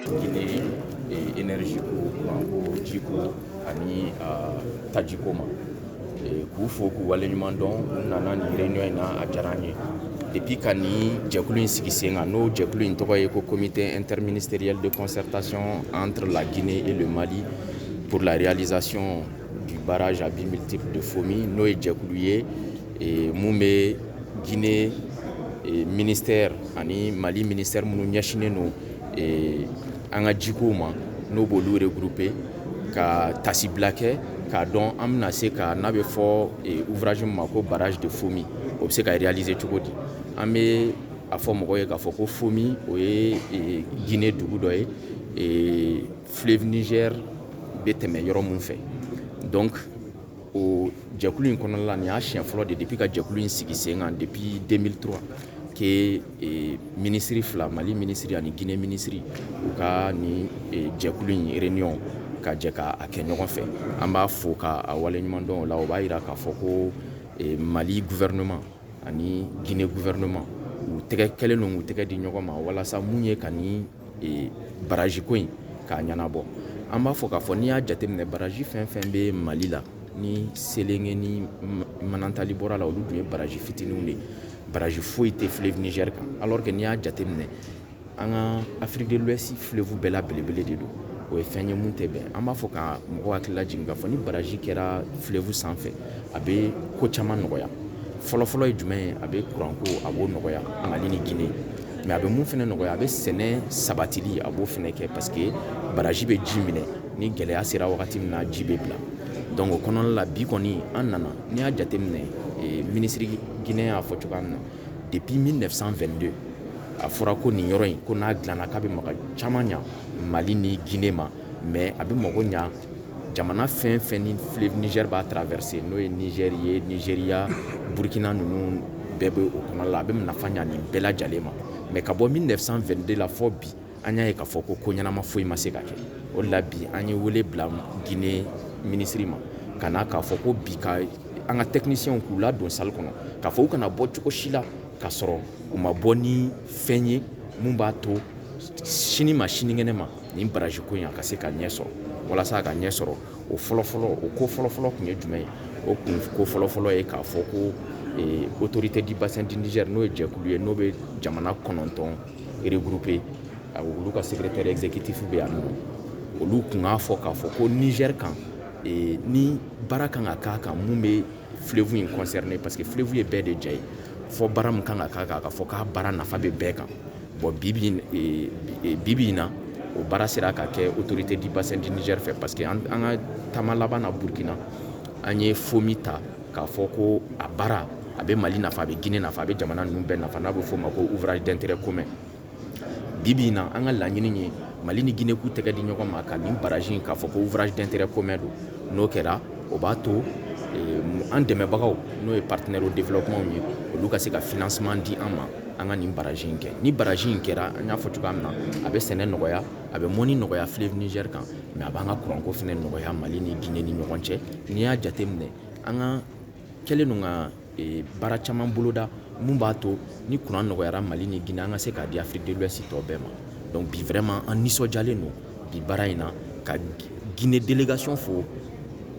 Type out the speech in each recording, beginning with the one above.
Guinée e énergie ko kuranko jiko ani tajiko ma k'u fo k'u waleɲuman dɔn u nana nin réunion in na a diyara an ye depuis ka nin jɛkulu in sigi sen kan n'o jɛkulu in tɔgɔ ye ko comité interministériel de concertation entre la Guinée et le Mali pour la réalisation du barrage à buts multiples de Fomi n'o ye jɛkulu ye mun bɛ Guinée ministère ani Mali ministère minnu ɲɛsinnen don an ka jikow ma n'o b'olu regrouper ka tasibila kɛ k'a dɔn an bɛna se ka n'a bɛ fɔ ouvrage min ma ko barrage de Fomi o bɛ se ka réaliser cogo di an bɛ a fɔ mɔgɔ ye k'a fɔ ko Fomi o ye Guinée dugu dɔ ye fleuve Niger bɛ tɛmɛ yɔrɔ min fɛ o jɛkulu in kɔnɔna la nin y'a siɲɛ fɔlɔ de depuis ka jɛkulu in sigi sen kan depuis 2003 que e, minisiri fila mali minisiri ani guinée minisiri u ka nin e, jɛkulu in réunion ka jɛ ka a kɛ ɲɔgɔn fɛ an b'a fo ka a waleɲuman dɔn o la o b'a yira k'a fɔ ko e, mali gouvernement ani guinée gouvernement u tɛgɛ kɛlen don k'u tɛgɛ di ɲɔgɔn ma walasa mun ye ka ni baraji ko in k'a ɲɛnabɔ an b'a fɔ k'a fɔ n'i y'a jateminɛ baraji fɛn fɛn bɛ mali la ni selenge ni manantali bɔra la olu dun ye baraji fitininw de ye baraji foyi tɛ fleuve Niger kan alors que n'i y'a jateminɛ an ka Afrique de l'Ouest fleuve bɛɛ la belebele de don o ye fɛn ye mun tɛ bɛn an b'a fɔ ka mɔgɔw hakili lajigin k'a fɔ ni baraji kɛra fleuve sanfɛ a bɛ ko caman nɔgɔya fɔlɔfɔlɔ ye jumɛn ye a bɛ kuranko a b'o nɔgɔya mali ni gine mais a bɛ mun fɛnɛ nɔgɔya a bɛ sɛnɛ sabatili a b'o fɛnɛ kɛ parce que baraji bɛ ji minɛ ni gɛlɛya sera wagati min na ji bɛ bila donc o kɔnɔna la bi kɔni an nana n'i y'a jateminɛ eh, ministre guinéen y'a fɔ cogoya min na depuis 1922 a fɔra ko nin yɔrɔ in ko n'a dilanna k'a bɛ mago caman ɲa mali ni gine ma mais a bɛ mago ɲa jamana fɛn fɛn ni fleuve Niger b'a traverser n'o ye Niger ye Nigeria Burkina ninnu bɛɛ bɛ o kɔnɔna la a bɛ nafa ɲa nin bɛɛ lajɛlen ma mais ka bɔ 1922 la fɔ bi an y'a ye k'a fɔ ko ko ɲɛnama foyi ma se ka kɛ o de la bi an ye wele bila Guinée minisiri ma ka na k'a fɔ ko bi ka an ka techniciens k'u ladon salle kɔnɔ k'a fɔ u kana bɔ cogo si la k'a sɔrɔ u ma bɔ ni fɛn ye mun b'a to sini ma sinikɛnɛ ma nin baraji ko in a ka se ka ɲɛ sɔrɔ walasa a ka ɲɛ sɔrɔ o fɔlɔfɔlɔ o ko fɔlɔfɔlɔ tun ye jumɛn ye o kunko fɔlɔfɔlɔ ye k'a fɔ ko eh, autorité du bassin du Niger n'o ye jɛkulu ye n'o bɛ jamana kɔnɔntɔn regrouper olu ka secrétaire exécutif bɛ yan nɔ olu kun k'a fɔ k'a fɔ ko Niger kan eh, ni baara kan ka k'a kan min bɛ fleuve in concerner parce que fleuve ye bɛɛ de jɛ ye fɔ baara min kan ka k'a kan k'a fɔ k'a baara nafa bɛ bɛɛ kan bon bibi in na o baara sera ka kɛ autorité du bassin du Niger fɛ parce que an ka taama laban na burukina an ye Fomi ta k'a fɔ ko a baara a bɛ mali nafa a bɛ Guinée nafa a bɛ jamana ninnu bɛɛ nafa n'a bɛ f'o ma ko ouvrage d'intérêt commun bibi in na an ka laɲini ye mali ni Guinée k'u tɛgɛ di ɲɔgɔn ma ka nin baraji in k'a fɔ ko ouvrage d'intérêt commun don n'o kɛra o b'a to an dɛmɛbagaw n'o ye partenaire au développementw ye olu ka se ka financement di an ma an ka nin baraji in kɛ ni baraji in kɛra an y'a fɔ cogoya min na a bɛ sɛnɛ nɔgɔya a bɛ mɔnni nɔgɔya fleuve Niger kan mais a b'an ka kuranko fana nɔgɔya mali ni Guinée ni ɲɔgɔn cɛ n'i y'a jate minɛ an ka kɛlen don ka baara caman boloda min b'a to ni kuran nɔgɔyara mali ni Guinée an ka se k'a di Afrique de l'Ouest tɔ bɛɛ ma donc bi vraiment an nisɔndiyalen don bi baara in na ka Guinée délégation fo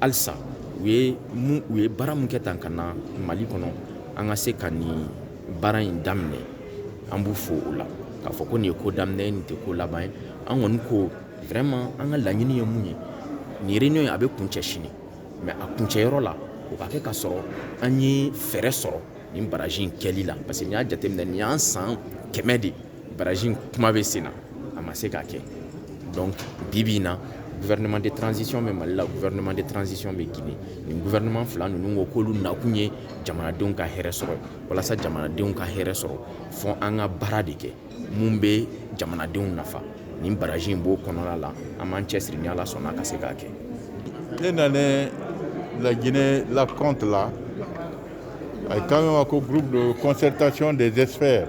halisa u ye u ye baara min kɛ tan ka na mali kɔnɔ an ka se ka nin baara in daminɛ an b'u fo o la k'a fɔ ko nin ye ko daminɛ ye nin tɛ ko laban ye an kɔni ko vraiment an ka laɲini ye mun ye nin réunion in a bɛ kuncɛ sini mais a kuncɛyɔrɔ la o ka kɛ ka sɔrɔ an ye fɛɛrɛ sɔrɔ nin baraji in kɛli la parce que n'i y'a jateminɛ nin y'an san kɛmɛ de ye baraji in kuma bɛ sen na a ma se ka kɛ donc bibi in na gouvernement de transition bɛ mali la gouvernement de transition bɛ guinée nin gouvernement fila ninnu ko k'olu nakun ye jamanadenw ka hɛrɛ sɔrɔ walasa jamanadenw ka hɛrɛ sɔrɔ fɔ an ka baara de kɛ mun bɛ jamanadenw nafa nin baraji in b'o kɔnɔna la an b'an cɛsiri ni ala sɔnna ka se k'a kɛ ne nalen la guinée la compte la a ye kan ko groupe de concertation des experts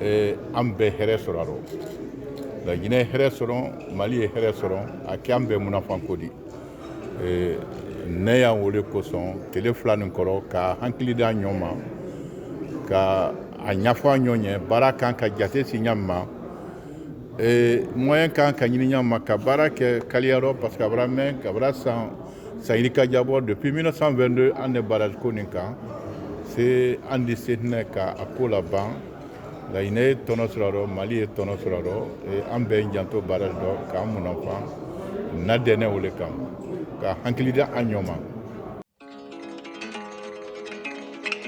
eh, an bɛɛ hɛrɛ sɔrɔ a rɔ laginɛ ye hɛrɛ sɔrɔ mali ye hɛrɛ sɔrɔ a kɛ an bɛɛ munafan ko di eh, ne yan wo le kosɔn tele fila nin kɔrɔ ka hakili da ɲɔgɔn ma ka a ɲafɔ a ɲɔgɔn ye baara kan ka jate si ɲa min ma eh, moyen kan ka ɲini ɲa min ma ka baara kɛ kaliya rɔ parce que a bara mɛn k'a bara san San yirika jabɔ depuis mille neuf cent vingt-deux an de baraji ko nin kan se an di se tɛna ka a ko laban laginɛ ye tɔnɔ sɔrɔ a rɔ mali ye tɔnɔ sɔrɔ a rɔ an bɛɛ janto baraji dɔ k'an munafan na dɛ ne wo le kan ka hakili da an ɲɔgɔn ma